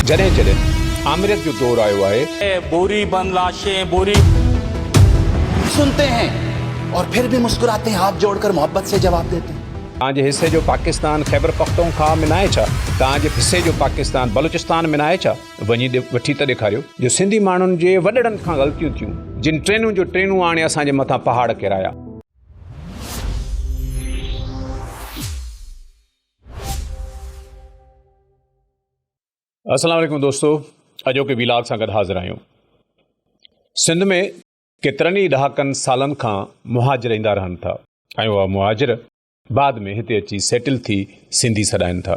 جڏهن جڏهن آمريت جو دور آيو آهي. بوري بند لاشين بوري. سنتي هين اور پھر بھي مسڪراتي هين هاٿ جوڙ ڪر محبت سي جواب ديتي هين. توهان جي حصي جو پاڪستان خيبر پختونخواهه ۾ ناهي ڇا؟ توهان جي حصي جو پاڪستان بلوچستان ۾ ناهي ڇا؟ وڃي وٺي ته ڏيکاريو. جو سنڌي ماڻهن جي وڏڙن کان غلطيون ٿيون جن ٽرينون جو ٽرينون آڻي اسان جي مٿان پهاڙ ڪيرايا. السلام عليڪم دوستو اڄوڪي ويلاگ سان گڏ حاضر آهيون سنڌ ۾ ڪيترن ئي ڏهاڪن سالن کان مهاجر ايندا رهن ٿا ۽ اها مهاجر بعد ۾ هتي اچي سيٽل ٿي سنڌي سڏائن ٿا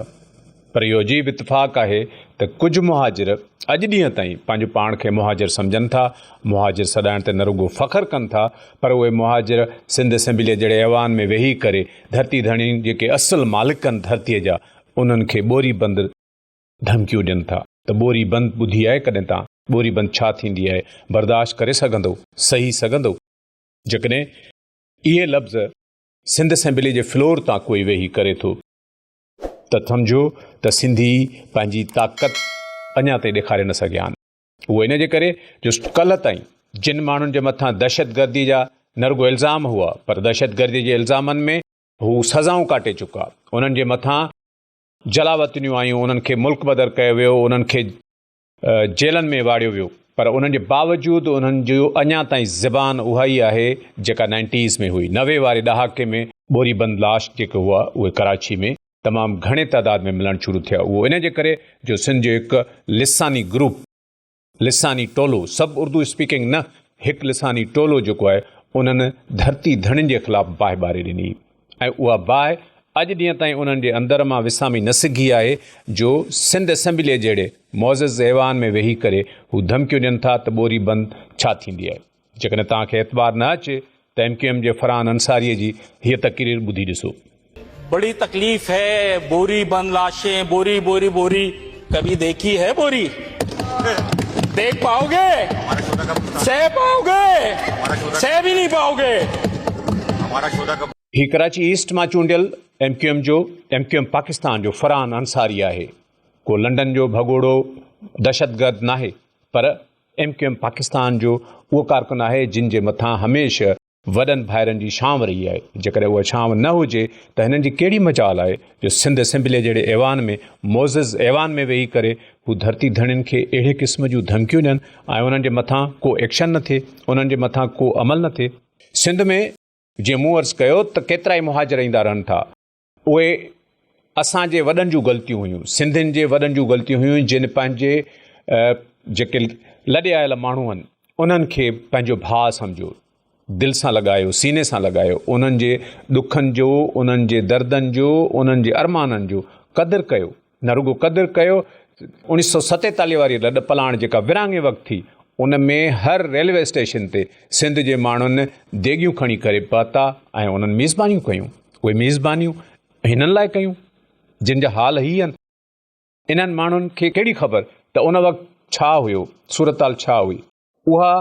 پر اهو عجيب اتفاق آهي ته ڪجهه مهاجر اڄ ڏينهن تائين پنهنجو پاڻ کي مهاجر سمجهن ٿا، مهاجر سڏائڻ تي نه رڳو فخر ڪن ٿا پر اهي مهاجر سنڌ اسيمبليء جهڙي ايوان ۾ ويهي ڪري ڌرتي ڌڻين جيڪي اصل مالڪن ڌرتيء جا انهن کي ٻوري بند ڌمڪيون ڏين ٿا ته ٻوري بند ٻڌي آهي ڪڏهن تان؟ ٻوري بند ڇا ٿيندي آهي؟ برداشت ڪري سگهندو؟ سهي سگهندو؟ جيڪڏهن اهي لفظ سنڌ اسيمبليء جي فلور تان ڪوئي ويهي ڪري ٿو. ته سمجهو ته سنڌي پنهنجي طاقت اڃا تائين ڏيکاري نه سگهيا آهن اهو ان جي ڪري جو ڪلهه تائين جن ماڻهن جي مٿان دهشتگردي جا نه رڳو الزام هئا پر دهشتگردي جي الزامن ۾ هو سزائون ڪاٽي چڪا انهن جي مٿان جلاوطنيون آيون انهن کي ملڪ بدر ڪيو ويو انهن کي جيلن ۾ واڙيو ويو پر ان جي باوجود انهن جي اڃا تائين زبان اها ئي آهي جيڪا نائنٽيز ۾ هئي نوي واري ڏهاڪي ۾ ٻوري بند لاش جيڪي هئا اهي ڪراچي ۾ تمام گهڻي تعداد ۾ ملڻ شروع ٿيا اهو ان جي ڪري جو سنڌ جو هڪ لساني گروپ لساني ٽولو سڀ اردو اسپيڪنگ نه هڪ لساني ٽولو جيڪو آهي انهن ڌرتي ڌڻين جي خلاف باهه ٻاري ڏني ۽ اها باهه اڄ ڏينهن تائين انهن جي اندر مان وسامي نه سگهي آهي جو سنڌ اسيمبليء جهڙي معزز ايوان ۾ ويهي ڪري هو ڌمڪيون ڏين ٿا ته ٻوري بند ڇا ٿيندي آهي. جيڪڏهن توهان کي اعتبار نه اچي ته ايم ڪيو ايم جي فرحان انصاريء جي هيء تقرير ٻڌي ڏسو. بڙي تڪليف هي ٻوري بند لاشين ٻوري ٻوري ٻوري. ڪڀي ديکي هي ٻوري ديک پائو گي سهه پائو گي سهه به نهي پائو گي. هي ڪراچي ايسٽ مان چونڊيل ايم ڪيو ايم جو ايم ڪيو ايم پاڪستان جو فرحان انصاري آهي ڪو لنڊن جو ڀڳوڙو دهشتگرد ناهي پر ايم ڪيو ايم پاڪستان جو اهو ڪارڪن آهي جن جي مٿان هميشه وڏن ڀائرن جي ڇانو رهي آهي، جيڪڏهن اها ڇانو نه هجي ته هنن جي ڪهڙي مجال آهي جو سنڌ اسيمبليء جهڙي ايوان ۾ معزز ايوان ۾ ويهي ڪري هو ڌرتي ڌڻين کي اهڙي قسم جون ڌمڪيون ڏين ۽ انهن جي مٿان ڪو ايڪشن نه ٿئي، انهن جي مٿان ڪو عمل نه ٿئي. سنڌ ۾ جيئن مون عرض ڪيو ته ڪيترائي مهاجر ايندا رهن ٿا. اهي اسان جي وڏن جون غلطيون هيون سنڌين جي وڏن جون غلطيون هيون جن پنهنجي جيڪي لڏي آيل ماڻهو آهن انهن کي پنهنجو ڀاء سمجهيو دل سان لڳايو سيني سان لڳايو انهن جي ڏکن جو انهن جي دردن جو انهن جي ارمانن جو قدر ڪيو نه رڳو قدر ڪيو. اوڻيھ سؤ ستيتاليھ واري لڏ پلاڻ جيڪا ورهاڱي وقت ٿي ان ۾ هر ريلوي اسٽيشن تي سنڌ جي ماڻهن ديڳيون کڻي ڪري پهتا ۽ انهن ميزبانيون ڪيون. اهي ميزبانيون هنن لاء ڪيون جن جا حال هي آهن. انهن ماڻهن کي ڪهڙي خبر ته ان وقت ڇا هيو صورتحال ڇا هئي. اها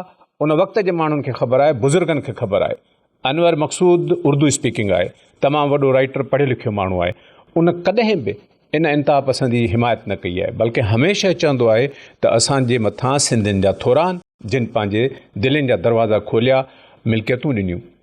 ان وقت جي ماڻهن کي خبر آهي، بزرگن کي خبر آهي. انور مقصود اردو اسپيڪنگ آهي، تمام وڏو رائيٽر، پڙهيو لکيو ماڻهو آهي. ان ڪڏهن به ان انتها پسندي جي حمايت نه ڪئي آهي، بلڪه هميشه چوندو آهي ته اسان جي مٿان سنڌين جا ٿوران، جن پنهنجي دلين جا دروازا کوليا، ملڪيتون ڏنيون.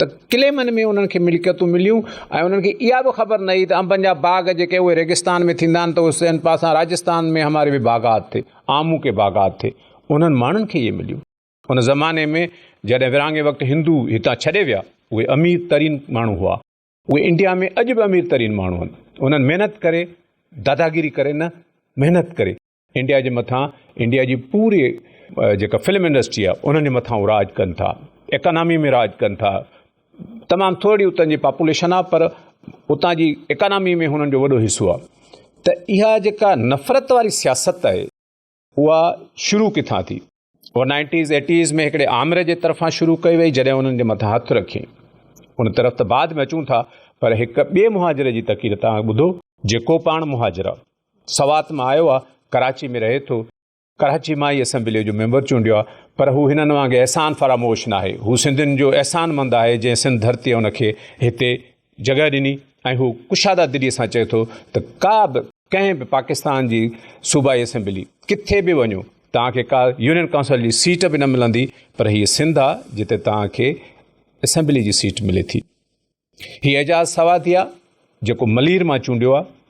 ته ڪليمن ۾ انهن کي ملڪيتون مليون ۽ انهن کي اها به خبر نه هئي ته انبن جا باغ جيڪي اهي ريگستان ۾ ٿيندا آهن ته اهي سين پاسان راجستان ۾ هماري به باغات ٿي آمون ڪي باغات ٿي انهن ماڻهن کي اهي مليون ان زماني ۾ جڏهن ورهاڱي وقت هندو هتان ڇڏي ويا اهي امير ترين ماڻهو هئا اهي انڊيا ۾ اڄ به امير ترين ماڻهو آهن انهن محنت ڪري داداگيري ڪري نه محنت ڪري انڊيا جي مٿان انڊيا جي پوري جيڪا فلم انڊسٽري آ انهن جي مٿان راج ڪن ٿا اڪانامي ۾ راج ڪن ٿا تمام ٿورڙي اتن جي پاپوليشن آ پر اتان جي اڪانامي ۾ هنن جو وڏو حصو آ ته اها جيڪا نفرت واري سياست آهي اها شروع ڪٿان ٿي هوء نائنٽيز ايٽيز ۾ هڪڙي آمر جي طرفان شروع ڪئي وئي جڏهن انهن جي مٿان هٿ رکين. ان طرف ته بعد ۾ اچون ٿا پر هڪ ٻئي مهاجر جي تقرير تان ٻڌو. جيڪو پاڻ مهاجر آ. سوات مان آيو آ. ڪراچي ۾ رهي ٿو. ڪراچي مان ئي اسيمبليء جو ميمبر چونڊيو آ. پر هو هنن وانگي احسان فراموش ناهي. هو سنڌين جو احسان مند آهي جنهن سنڌ ڌرتيء هن کي هتي جڳهه ڏني ۽ هو ڪشاده دلي سان چئي ٿو ته ڪا به ڪنهن به پاڪستان جي صوبائي اسيمبلي ڪٿي به وڃو توهان کي ڪا يونين ڪائونسل جي سيٽ به نه ملندي پر هيء سنڌ آ جتي توهان کي اسيمبلي جي سيٽ ملي ٿي هي اعجاز سواتيا جيڪو ملير مان چونڊيو آ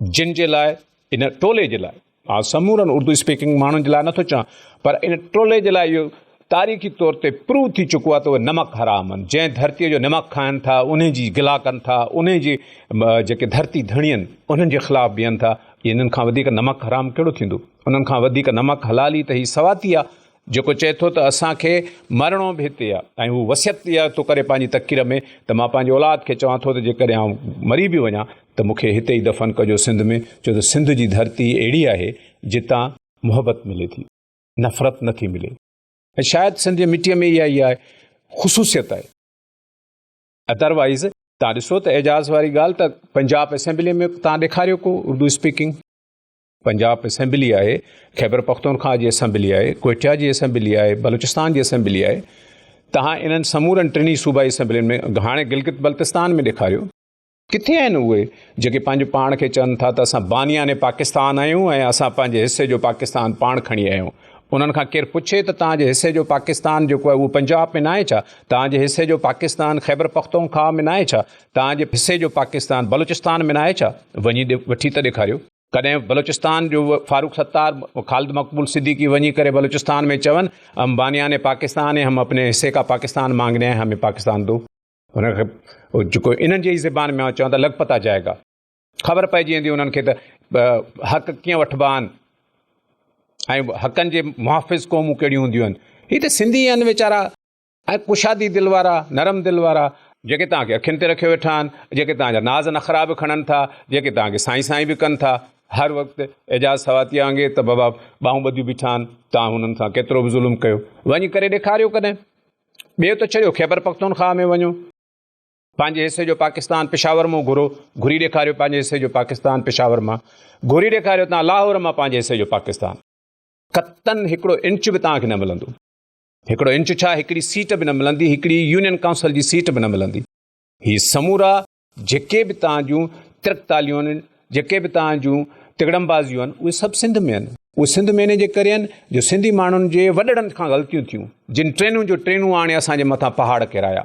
جن جي لاء ان ٽولي جي لاء آء سمورن اردو اسپيڪنگ ماڻهن جي لاء نٿو چوان پر ان ٽولي جي لاء اهو تاريخي طور تي پروو ٿي چڪو آهي ته اهي نمڪ حرام آهن جنهن ڌرتي جو نمڪ کائن ٿا ان جي گلا ڪن ٿا ان جي جيڪي ڌرتي ڌڻي آهن انهن جي خلاف بيهن ٿا انهن کان وڌيڪ نمڪ حرام ڪهڙو ٿيندو انهن کان وڌيڪ نمڪ حلال ئي ته هي سواتي آهي جيڪو چئي ٿو ته اسان کي مرڻو به هتي آهي ۽ هو وصيت اها ٿو ڪري پنهنجي تقرير ۾ ته مان پنهنجي اولاد کي چوان ٿو ته جيڪڏهن آئون مري به وڃان ته مون کي هتي ئي دفن ڪجو سنڌ ۾ ڇو ته سنڌ جي ڌرتي اهڙي آهي جتان محبت ملي ٿي نفرت نه ٿي ملي ۽ شايد سنڌ جي مٽيء ۾ اها ئي آهي خصوصيت آهي ادروائز تان ڏسو ته اعجاز واري ڳالهه ته پنجاب اسيمبلي ۾ تان ڏيکاريو ڪو اردو اسپيڪنگ پنجاب اسيمبلي آهي، خيبر پختونخواه جي اسيمبلي آهي، ڪوئٽه جي اسيمبلي آهي، بلوچستان جي اسيمبلي آهي، توهان انهن سمورن ٽنهي صوبائي اسيمبلين ۾ هاڻي گلگت بلتستان ۾ ڏيکاريو، ڪٿي آهن اهي جيڪي پنهنجو پاڻ کي چون ٿا ته اسان بانيان پاڪستان آهيون ۽ اسان پنهنجي حصي جو پاڪستان پاڻ کڻي آيا آهيون، انهن کان ڪير پڇي ته توهان جي حصي جو پاڪستان جيڪو آهي اهو پنجاب ۾ ناهي ڇا؟ توهان جي حصي جو پاڪستان خيبر پختونخواه ۾ ناهي ڇا؟ توهان جي حصي جو پاڪستان بلوچستان ۾ ناهي ڇا؟ وڃي وٺي ته ڏيکاريو. ڪڏهن بلوچستان جو فاروق ستار خالد مقبول صديقي وڃي ڪري بلوچستان ۾ چون هم بانيان هي پاڪستان هي هم اپني حصي کا پاڪستان مانگني آئي همي پاڪستان دو هن کي جيڪو انهن جي زبان ۾ چون ته لڳ پتا جائي گا خبر پئجي ويندي انهن کي ته حق ڪيئن وٺبا آهن ۽ حقن جي محافظ قومون ڪهڙيون هونديون آهن هي ته سنڌي آهن ويچارا اهي ڪشادي دل وارا، نرم دل وارا، جيڪي توهان کي اکين تي رکيو ويٺا آهن، جيڪي توهان جا ناز نخرا به کڻن ٿا، جيڪي توهان کي سائين سائين به ڪن ٿا، هر وقت اعجاز سواتيء وانگي ته بابا ٻانهون ٻڌيون بيٺا آهن، توهان هنن سان ڪيترو به ظلم ڪيو، وڃي ڪري ڏيکاريو ڪڏهن، ٻيو ته ڇڏيو خيبر پختونخواهه ۾ وڃو، پنهنجي حصي جو پاڪستان پشاور مون گهرو، گهري ڏيکاريو پنهنجي حصي جو پاڪستان پشاور مان، گهري ڏيکاريو توهان لاهور مان پنهنجي حصي جو پاڪستان، قطعاً هڪڙو انچ به توهان کي نه ملندو. هڪڙو انچ ڇا هڪڙي سيٽ به نه ملندي، هڪڙي يونين ڪائونسل جي سيٽ به نه ملندي. هي سمورا جيڪي به توهان جون ترڪتاليون آهن، جيڪي به توهان جون تڳڙمبازيون آهن، اهي سڀ سنڌ ۾ آهن. اهي سنڌ ۾ انهي جي ڪري آهن جو سنڌي ماڻهن جي وڏڙن کان غلطيون ٿيون، جن ٽرينون جو ٽرينون آڻي اسان جي مٿان پهاڙ ڪيرايا.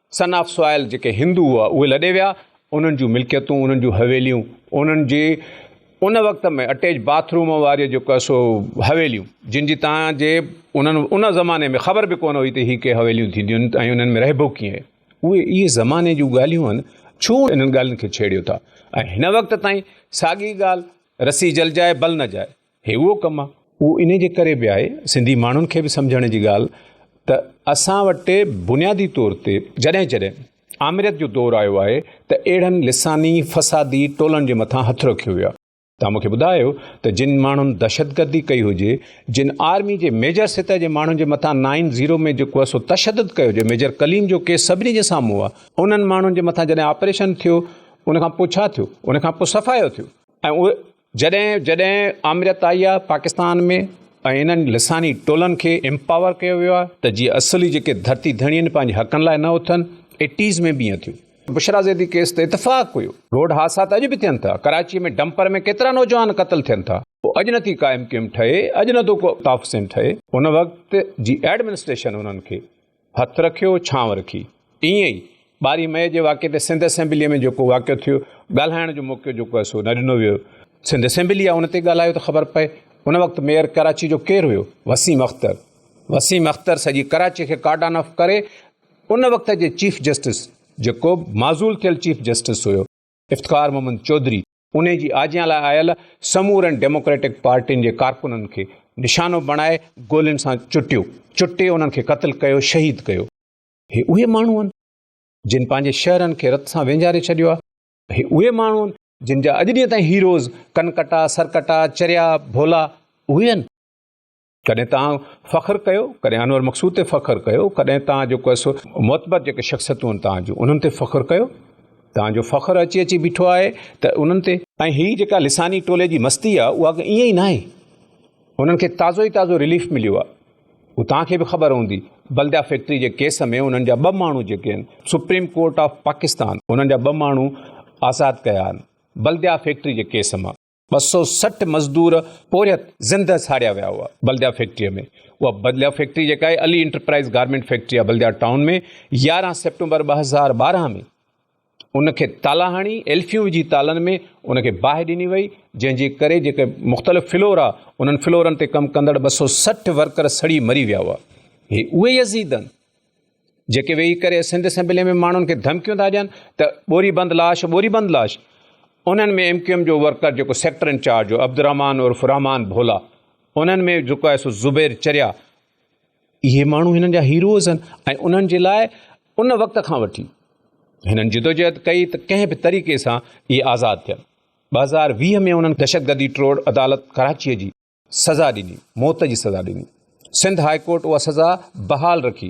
سن آف سوائل جيڪي هندو هئا اهي لڏي ويا انهن جون ملڪيتون انهن جون حويليون انهن جي ان وقت ۾ اٽيچ باٿ روم واري جيڪو سو حويليون جن جي تان جي انهن ان زماني ۾ خبر به ڪونه هئي ته هي ڪي حويليون ٿينديون آهن ۽ انهن ۾ رهبو ڪيئن اهي اهي زماني جون ڳالهيون آهن ڇو انهن ڳالهين کي ڇيڙيو ٿا ۽ هن وقت تائين ساڳي ڳالهه رسي جل جائي بل نه جائي هي اهو ڪم آ. اهو انهي جي ڪري به آهي سنڌي ماڻهن کي به سمجهڻ جي ڳالهه ته اسان وٽ بنيادي طور تي جڏهن جڏهن آمريت جو دور آيو آهي ته اهڙن لساني فسادي ٽولن جي مٿان هٿ رکيو ويو آ. توهان مون کي ٻڌايو ته جن ماڻهن دهشتگردي ڪئي هجي، جن آرمي جي ميجر سطح جي ماڻهن جي مٿان نائن زيرو ۾ جيڪو آ سو تشدد ڪيو جي ميجر ڪليم جو ڪيس سڀني جي سامهون آ، انهن ماڻهن جي مٿان جڏهن آپريشن ٿيو ان کان پوء ڇا ٿيو؟ ان کان پوء صفايو ٿيو ۽ اهي جڏهن جڏهن آمريت آئي آهي پاڪستان ۾ ۽ انهن لساني ٽولن کي امپاور ڪيو ويو آهي ته جيئن اصلي جيڪي ڌرتي ڌڻي آهن پنهنجي حقن لاء نه اٿن ايٽيز ۾ به ائين ٿيو. بشريٰ زيدي ڪيس تي اتفاق هيو. روڊ حادثا ته اڄ به ٿين ٿا. ڪراچيء ۾ ڊمپر ۾ ڪيترا نوجوان قتل ٿين ٿا. اڄ نه ٿي قائم ڪيم ٺهي، اڄ نه ٿو ڪو تحفسين ٺهي. ان وقت جي ايڊمنسٽريشن انهن کي هٿ رکيو، ڇانو رکي. ائين ئي ٻارهين مئي جي واقعي تي سنڌ اسيمبليء ۾ جيڪو واقعو ٿيو، ڳالهائڻ جو موقعو جيڪو آهي سو نه ڏنو ويو. سنڌ اسيمبليء آء ان تي ڳالهايو ته خبر پئي. ان وقت ميئر ڪراچيء جو ڪير هيو؟ وسيم اختر. وسيم اختر سڄي ڪراچيء کي ڪارڊان آف ڪري ان وقت جي چيف جسٽس جيڪو معزول ٿيل چيف جسٽس هيو، افتخار محمد چوڌري انهي جي آجيان لاء آيل سمورن ڊيموڪريٽڪ پارٽين جي ڪارڪنن کي نشانو بڻائي گولين سان چٽيو چٽي انهن کي قتل ڪيو شهيد ڪيو. هي اهي ماڻهو آهن جن پنهنجي شهرن کي رت سان وينجاري ڇڏيو آهي. هي اهي ماڻهو آهن جن جا اڄ ڏينهن تائين هيروز ڪنڪٽا، سرڪٽا، چريا، ڀولا اهي آهن. ڪڏهن توهان فخر ڪيو ڪڏهن انور مقصود تي فخر ڪيو ڪڏهن توهان جيڪو آهي سو معتبر جيڪي شخصيتون آهن توهان جون انهن تي فخر ڪيو توهان جو فخر اچي اچي بيٺو آهي ته انهن تي ۽ هي جيڪا لساني ٽولي جي مستي آهي اها ائين ئي ناهي انهن کي تازو ئي تازو ريليف مليو آهي هو توهان کي به خبر هوندي بلديا فيڪٽري جي ڪيس ۾ انهن جا ٻه ماڻهو جيڪي آهن سپريم ڪورٽ آف پاڪستان انهن جا ٻه ماڻهو آزاد ڪيا آهن بلديا فيڪٽري جي ڪيس مان ٻه سؤ سٺ مزدور پورهيت زندهه ساڙيا ويا هئا بلديا فيڪٽري ۾ اها بلديا فيڪٽري جيڪا آهي علي انٽرپرائز گارمنٽ فيڪٽري آهي بلديا ٽائون ۾ يارهن سيپٽمبر ٻه هزار ٻارهن ۾ ان کي تالا هڻي ايلفيون وجھي تالن ۾ ان کي باهه ڏني وئي جنهن جي ڪري جيڪي مختلف فلور آ انهن فلورن تي ڪم ڪندڙ ٻه سؤ سٺ ورڪر سڙي مري ويا هئا هي اهي يزيدن جيڪي ويهي ڪري سنڌ اسيمبلي ۾ ماڻهن کي ڌمڪيون ٿا ڏين ته ٻوري بند لاش ٻوري بند لاش انهن ۾ ايم ڪيو ايم جو ورڪر جيڪو سيڪٽر انچارج هو عبدالرحمان عرف رحمان ڀولا انهن ۾ جيڪو آهي سو زبير چريا اهي ماڻهو هنن جا هيروز آهن ۽ انهن جي لاء ان وقت کان وٺي هنن جدوجهد ڪئي ته ڪنهن به طريقي سان اهي آزاد ٿيا ٻه هزار ويهه ۾ انهن دهشتگردي ٽروڙ عدالت ڪراچيء جي سزا ڏني، موت جي سزا ڏني، سنڌ هاء ڪورٽ اها سزا بحال رکي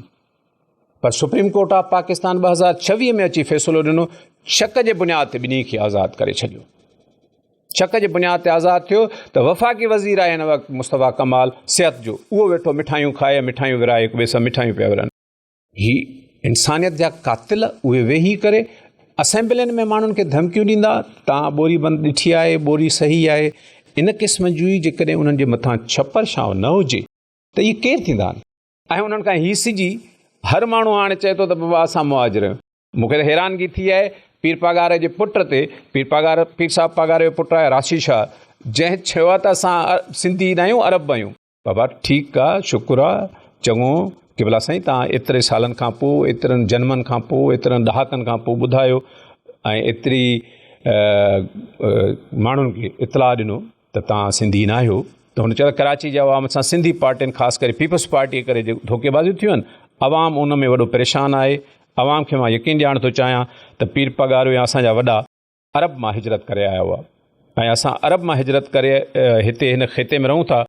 پر سپريم ڪورٽ آف پاڪستان ٻه هزار ڇويهه ۾ اچي فيصلو ڏنو شڪ جي بنياد تي ٻنهي کي آزاد ڪري ڇڏيو شڪ جي بنياد تي آزاد ٿيو ته وفاقي وزير آهي هن وقت مصطفيٰ ڪمال صحت جو اهو ويٺو مٺايون کائي مٺايون ورائي هڪ ٻئي سان مٺايون پيا ورن هي انسانيت جا قاتل اهي ويهي ڪري اسيمبلين ۾ ماڻهن کي ڌمڪيون ڏيندا تان ٻوري بند ڏٺي آهي ٻوري صحيح آهي ان قسم جي جيڪڏهن انهن جي مٿان ڇپر شاو نه هجي ته اهي ڪير ٿيندا آهن ۽ انهن کان هي سجي هر ماڻهو هاڻي چئي ٿو ته بابا اسان مهاجر آهيون مون کي حيرانگي ٿي آهي پير پاگار جي پٽ تي پير پاگار پير صاحب پاگار جو پٽ آهي راشي شاهه جنهن چيو آهي ته اسان سنڌي نه آهيون عرب آهيون بابا، ٺيڪ آ، شڪر آ، چڱو، قبلا سائين توهان ايتري سالن کان پوء، ايترن جنمن کان پوء، ايترن ڏهاڪن کان پوء ٻڌايو ۽ ايتري ماڻهن کي اطلاع ڏنو ته توهان سنڌي ناهيو ته هن چيو ته ڪراچي جي عوام سان سنڌي پارٽين خاص ڪري پيپلز پارٽي جي ڪري جيڪو ڌوڪي بازيون ٿيون آهن عوام ان ۾ وڏو پريشان آهي عوام کي مان يقين ڏيارڻ ٿو چاهيان ته پير پڳارو يا اسان جا وڏا عرب مان هجرت ڪري آيا هئا ۽ اسان عرب مان هجرت ڪري هتي هن خطي ۾ رهون ٿا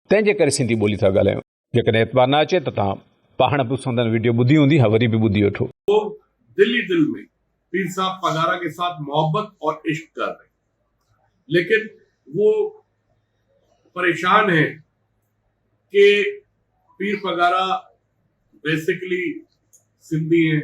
تنهن جي ڪري سنڌي ٻولي ٿا ڳالهايون جيڪڏهن اعتبار نه اچي ته تان پاڻ به سندن ويڊيو ٻڌي هوندي ها وري به ٻڌي وٺو. هو دل هي دل مين پير صاحب پگارا ڪي ساٿ محبت اور عشق ڪر رهي ليڪن وو پريشان هي ڪي پير پگارا بيسڪلي سنڌي هي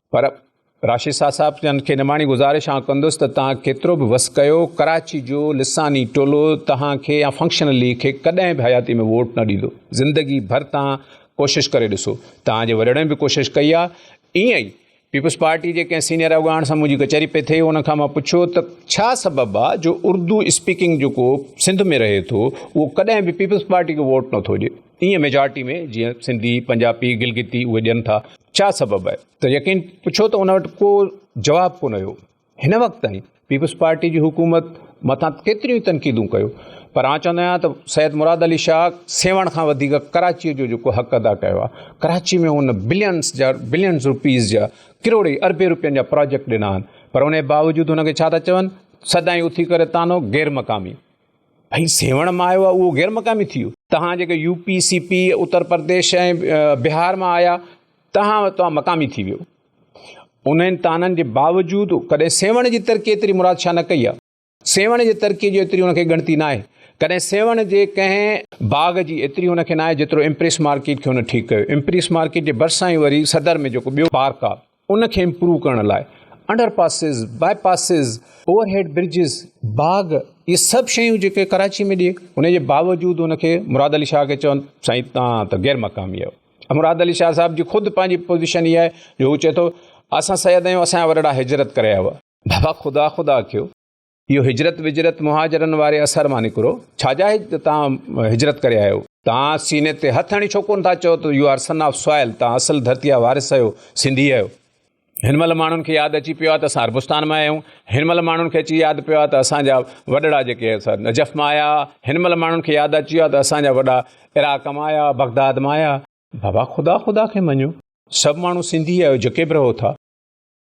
پر راشد شاهه صاحب جن کي نماڻي گذارش آئون ڪندس ته توهان ڪيترو به وس ڪيو ڪراچي جو لساني ٽولو توهان کي يا فنڪشنل ليگ کي ڪڏهن به حياتي ۾ ووٽ نه ڏيندو زندگي ڀر توهان ڪوشش ڪري ڏسو توهان جي وڏڙن به ڪوشش ڪئي آهي ائين ئي پيپلز پارٽي جي ڪنهن سينيئر اڳواڻ سان منهنجي ڪچهري پئي ٿي ان کان مان پڇيو ته ڇا سبب آهي جو اردو اسپيڪنگ جيڪو سنڌ ۾ رهي ٿو اهو ڪڏهن به پيپلز پارٽي کي ووٽ نٿو ڏي ايئن ميجارٽي ۾ جيئن سنڌي، پنجاپي، گلگتي اهي ڏين ٿا. ڇا سبب آهي؟ ته يقين پڇيو ته ان وٽ ڪو جواب ڪونه هيو. هن وقت تائين پيپلز پارٽي جي حڪومت مٿان ڪيتريون ئي تنقيدون ڪيو پر آء چوندو آهيان ته سيد مراد علي شاهه سيوهڻ کان وڌيڪ ڪراچيء جو جيڪو حق ادا ڪيو آهي، ڪراچيء ۾ هن بلينز جا بلينز روپيز جا ڪروڙين اربين روپين جا پراجيڪٽ ڏنا آهن پر ان جي باوجود هن کي ڇا ٿا چون سدائين اٿي ڪري طعنو غير مقامي. ۽ سيوهڻ مان آيو آهي اهو غير مقامي ٿي ويو توهان جيڪي U P C P Uttar Pradesh ۽ بهار مان آيا توهان توهان مقامي ٿي ويو انهن تانن جي باوجود ڪڏهن سيوهڻ جي ترقي ايتري مراد شاهه نه ڪئي آهي سيوهڻ جي ترقي جو ايتري ان کي ڳڻتي نه آهي ڪڏهن سيوهڻ جي ڪنهن باغ جي ايتري هن کي نه آهي جيترو امپريس مارڪيٽ کي هن ٺيڪ ڪيو امپريس مارڪيٽ جي ڀرسان ئي وري صدر ۾ جيڪو ٻيو پارڪ آهي ان کي امپروو ڪرڻ لاء under passes, bypasses, overhead bridges, باغ اهي سڀ شيون جيڪي ڪراچي ۾ ڏي ان جي باوجود ان کي مراد علي شاهه کي چون سائين تان ته غير مقامي آهيو مراد علي شاهه صاحب جي خود پنهنجي پوزيشن اها آهي جو هو چئي ٿو اسان سيد آهيون اسان جا وڏڙا هجرت ڪري آيا هئا بابا خدا خدا ڪيو. اهو هجرت وجرت مهاجرن واري اثر مان نڪرو ڇا جا تان هجرت ڪري آيو تان سيني تي هٿ هڻي ڇو ڪون ٿا چئو ته you are son of soil تان اصل ڌرتي جا وارث آيو سنڌي آيو هن مهل ماڻهن کي ياد اچي پيو آهي ته اسان عربستان مان آيا آهيون هن مهل ماڻهن کي اچي ياد پيو آهي ته اسانجا وڏڙا جيڪي نجف مان آيا هن مهل ماڻهن کي ياد اچي ويو آهي ته اسانجا وڏا عراق مان آيا بغداد مان آيا بابا خدا خدا کي مڃو سڀ ماڻهو سنڌي آهيو جيڪي به رهو ٿا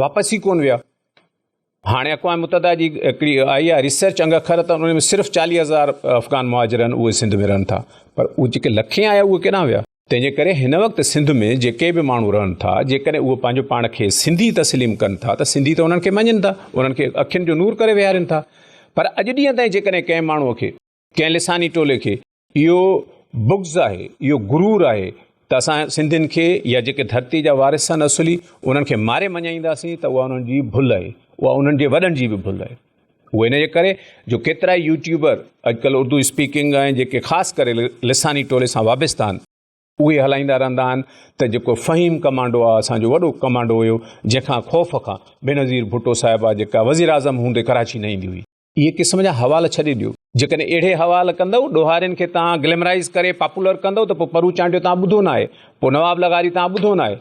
واپس ئي ڪونه ويا. هاڻي اقوام متحده جي هڪڙي آئي آهي ريسرچ انگ اکر ته ان ۾ صرف چاليهه هزار افغان مهاجر آهن اهي سنڌ ۾ رهن ٿا پر اهي جيڪي لکين آيا اهي ڪيڏانهن ويا تنهن جي ڪري هن وقت سنڌ ۾ جيڪي به ماڻهو رهن ٿا جيڪڏهن اهي پنهنجو پاڻ کي سنڌي تسليم ڪن ٿا ته سنڌي ته انهن کي مڃن ٿا انهن کي اکين جو نور ڪري ويهارين ٿا پر اڄ ڏينهن تائين جيڪڏهن ڪنهن ماڻهو کي ڪنهن لساني ٽولي کي اهو بغض آهي، اهو غرور آهي ته اسان سنڌين کي يا جيڪي ڌرتي جا وارث آهن اصلي انهن کي ماري مڃائينداسين ته اها انهن جي ڀل آهي، اها انهن جي وڏن جي به ڀل آهي. اهو ان جي ڪري جو ڪيترائي يوٽيوبر اڄڪلهه اردو اسپيڪنگ ۽ جيڪي خاص ڪري لساني ٽولي سان وابسته آهن، اهي هلائيندا رهندا آهن ته جيڪو فهيم ڪمانڊو آهي اسان جو وڏو ڪمانڊو هيو جنهن کان خوف کان بينظير ڀٽو صاحبه جيڪا وزيراعظم هوندي ڪراچي نه ايندي هئي، اهي قسم جا حوال ڇڏي ڏيو. جيڪڏهن اهڙي حوال ڪندؤ، ڏوهارين کي توهان گليمرائيز ڪري پاپولر ڪندؤ ته پوء پرو چانڊيو توهان ٻڌو ناهي، پوء نواب لغاري توهان ٻڌو ناهي.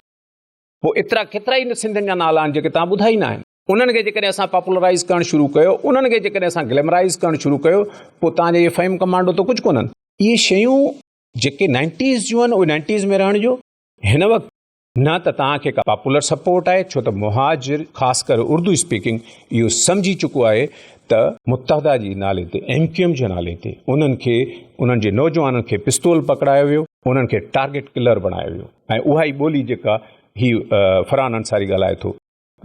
پوء ايترا ڪيترا ئي سنڌين جا نالا آهن جيڪي توهان ٻڌا ئي ناهن. انهن کي جيڪڏهن اسان پاپولرائيز ڪرڻ شروع ڪيو، انهن کي جيڪڏهن اسان گليمرائيز ڪرڻ شروع ڪيو، پوء توهان جا اهي فهيم ڪمانڊو ته ڪجهه ڪونهن. اهي شيون جيڪي نائنٽيز جون آهن، اهي نائنٽيز ۾ رهڻ ڏيو. هن وقت نه ته توهان کي ڪا پاپولر سپورٽ آهي ڇو ته مهاجر خاص ڪري اردو اسپيڪنگ اهو سمجهي چڪو آهي ته متحده جي نالي تي ايم ڪيو ايم جي نالي تي انهن کي انهن جي نوجوانن کي پستول پڪڙايو ويو انهن کي ٽارگيٽ ڪلر بڻايو ويو ۽ اها ئي ٻولي جيڪا هي فرحان انصاري ڳالهائي ٿو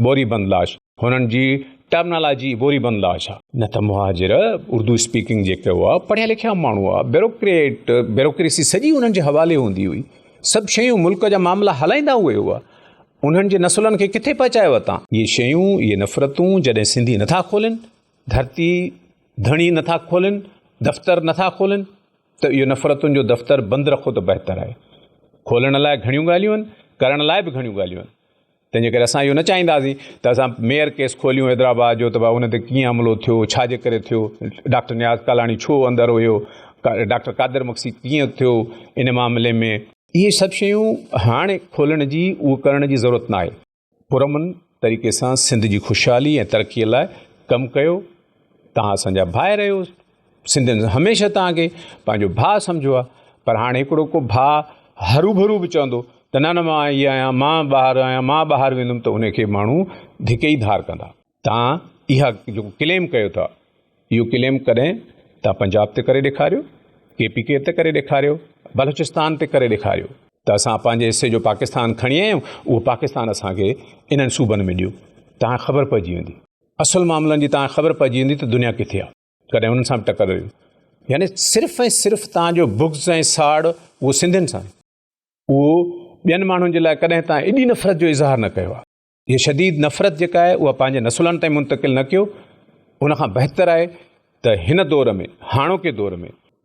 بوري بند لاش هنن جي ٽرمنالاجي بوري بند لاش آ. نه ته مهاجر اردو اسپيڪنگ جيڪي هئا پڙهيا لکيا ماڻهو هئا بيروڪريٽ بيروڪريسي سڄي انهن جي حوالي هوندي هئي سڀ شيون ملڪ جا معاملا هلائيندا اهي هئا انهن جي نسلن کي ڪٿي پهچايو اتان. اهي شيون اهي نفرتون جڏهن سنڌي نٿا کولين ڌرتي ڌڻي نٿا کولين دفتر نٿا کولين ته اهو نفرتن جو دفتر بند رکو ته بهتر آهي کولڻ لاء گهڻيون ڳالهيون آهن ڪرڻ لاء به گهڻيون ڳالهيون آهن تنهن جي ڪري اسان اهو نه چاهينداسين ته اسان ميئر ڪيس کوليون حيدرآباد جو ته ڀا ان تي ڪيئن حملو ٿيو، ڇا جي ڪري ٿيو، ڊاڪٽر نياز ڪالاڻي ڇو اندر هيو، ڊاڪٽر قادر مگسي ڪيئن ٿيو ان معاملي ۾. اهي سڀ شيون هاڻ کولڻ جي اهو ڪرڻ جي ضرورت نه آهي. پرامن طريقي سان سنڌ جي خوشحالي ۽ ترقي لاء ڪم ڪيو، توهان اسان جا ڀائر آهيو. سنڌين هميشه توهان کي پنهنجو ڀاء سمجهيو آهي پر هاڻي هڪڙو ڪو ڀاء هروڀرو به چوندو ته نه نه مان هي آهيان مان ٻاهر آهيان مان ٻاهر ويندم ته ان کي ماڻهو ڌڪي ئي ڌار ڪندا. توهان اها جيڪو ڪليم ڪيو ٿا اهو ڪليم ڪڏهن توهان پنجاب تي ڪري ڏيکاريو ڪي پي ڪي تي ڪري ڏيکاريو بلوچستان تي ڪري ڏيکاريو ته اسان پنهنجي حصي جو پاڪستان کڻي آيا آهيون اهو پاڪستان اسان کي انهن صوبن ۾ ڏيو توهان کي خبر پئجي ويندي اصل معاملن جي توهان کي خبر پئجي ويندي ته دنيا ڪٿي آهي. ڪڏهن انهن سان به ٽڪر رهي يعني صرف ۽ صرف تان جو بغض ۽ ساڙ اهو سنڌين سان اهو ٻين ماڻهن جي لاء ڪڏهن تان ايڏي نفرت جو اظهار نه ڪيو آهي هي شديد نفرت جيڪا آهي اها پنهنجي نسلن تائين منتقل نه ڪيو ان کان بهتر آهي ته هن دور ۾ هاڻوڪي دور ۾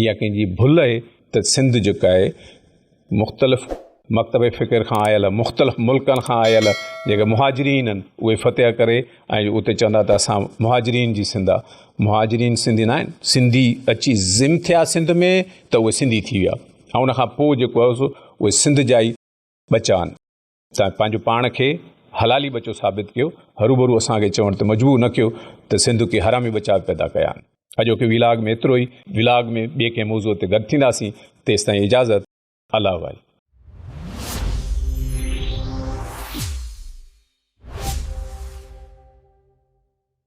اها ڪنهن جي ڀل اهي ته سنڌ جيڪا اهي مختلف مڪتب فڪر کان آيل مختلف ملڪن کان آيل جيڪي مهاجرين اهن اهي فتح ڪري ۽ اتي چوندا ته اسان مهاجرين جي سنڌ آهي مهاجرين سنڌي نه آهن سنڌي اچي ضم ٿيا سنڌ ۾ ته اهي سنڌي ٿي ويا ۽ ان کان پوء جيڪو آهي سو اهي سنڌ جا ئي ٻچا آهن تنهن پنهنجو پاڻ کي حلالي ٻچو ثابت ڪيو، هروڀرو اسان کي چوڻ تي مجبور نه ڪيو ته سنڌ ڪي حرامي بچا به پيدا ڪيا آهن. اڄوڪي ويلاگ ۾ ايترو ئي. ويلاگ ۾ ٻئي ڪنهن موضوع تي گڏ ٿينداسين، تيستائين اجازت. الله وائي.